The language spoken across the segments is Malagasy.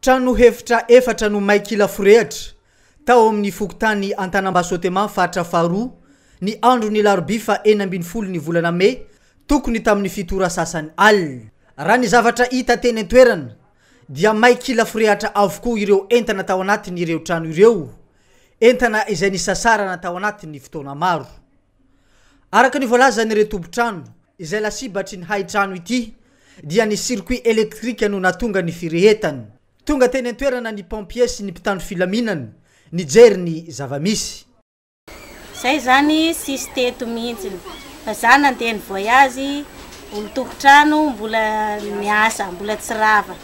Trano hevitra efatra no may kila forehitra, tao amin'ny fokontany Antanambasoteman, faritra faharoa, ny andron'ny alarobia faha enina ambin'ny folo ny volana mey, tokony tamin'ny fito ora sasany alina. Raha ny zavatra hita teny an-toerana dia may kila forehatra avokoa ireo entana tao anatin'ireo trano ireo, entana izay nisasarana tao anatin'ny fotoana maro. Araka ny voalazan'ireo tompon-trano izay lasibatry ny hain-trano ity dia ny circuit électrique no nahatonga ny firehetany. Tonga teny an-toerana ny pompiers sy ny mpitandro filaminana nijery ny zava-misy. Zay izany tsisy teto mihintsiny fa za nandeha ny voyage olon-tompon-trano mbola miasa mbola tsy rava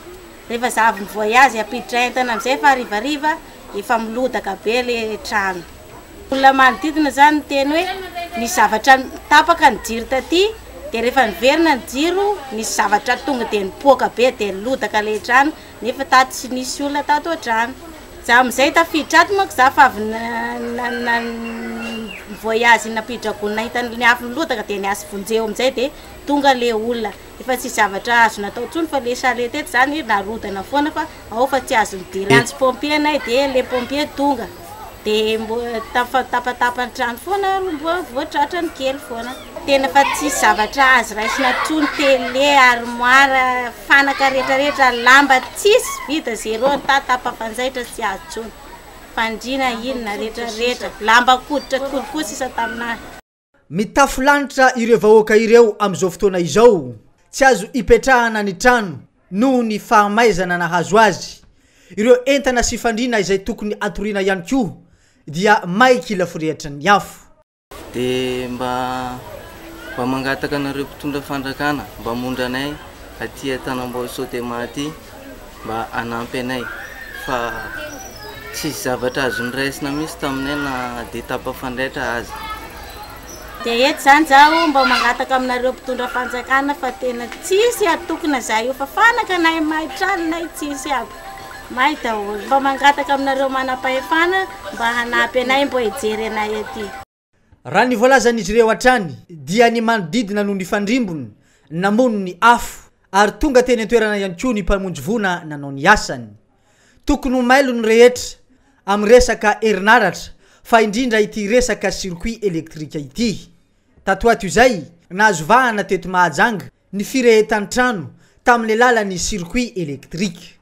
rehefa za avy mi-voyage ampiditra entana amizay fa harivariva efa milodaka be le trano. Olona manodidina izany niteny hoe nisy zavatra tapaka ny jiro taty dia rehefa niverina ny jiro nisy zavatra tonga dia nipoaka be dia nilodaka lehidrano nefa tato tsy nisy olona tato ohatrany. Za amin'izay tafiditra ato manko za fa avy nivoyazy nampiditra gony nahita ny afo nilodaka dia niasy vonjeo amin'izay dia tonga le olona. Efa tsy zavatra azo natao tsony fa le charrette eto zany narodana foana fa ao fa tsy azo de lantso pompier anay de le pompier tonga de mbo tapatapa ny trano foana ary mbo voatratra ny kely foana tena fa tsisy zavatra azo raisina tsony tele armoire fanaka retraretra lamba tsisy vide zero ny ta tapafanjaitra tsy azo tsony fandriana inona retraretra lamba koditra kolikoa sisa taminah Mitafo lanitra ireo vahoaka ireo amin'izao fotoana izao. Tsy azo ipetrahana ny trano noho ny fahamaizana nahazo azy. Ireo entana sy fandriana izay tokony hatoriana ihany koa dia may kila forehitra ny afo. Dia mba mba mangataka anareo mpitondra fandrakana mba hamondra anay aty an-tanambao Sodema aty. mba hanampy anay fa tsisy zavatra azo noraisina mihitsy taminay na dia tapafandraitra aza. Dia eto izany izaho mba mangataka aminareo mpitondra fanjakana fa tena tsisy hatokona izahay io fa fanakanay may, tranonay tsisy aby, may daholo. Mba mangataka aminareo manam-pahefana mba hanampy anay mba hijery anay aty. Raha ny voalazan'izy ireo hatrany dia ny manodidina no nifandrimbony namono ny afo ary tonga teny an-toerana ihany koa ny mpamonjy voina nanao ny asany. Tokony ho mailo ny rehetra amin'ny resaka herinaratra fa indrindra ity resaka circuit elektrika ity. Tato ato izay, nahazo vahana teto Mahajanga ny firehetan-trano tamin'ilay lalan'ny circuit elektrika.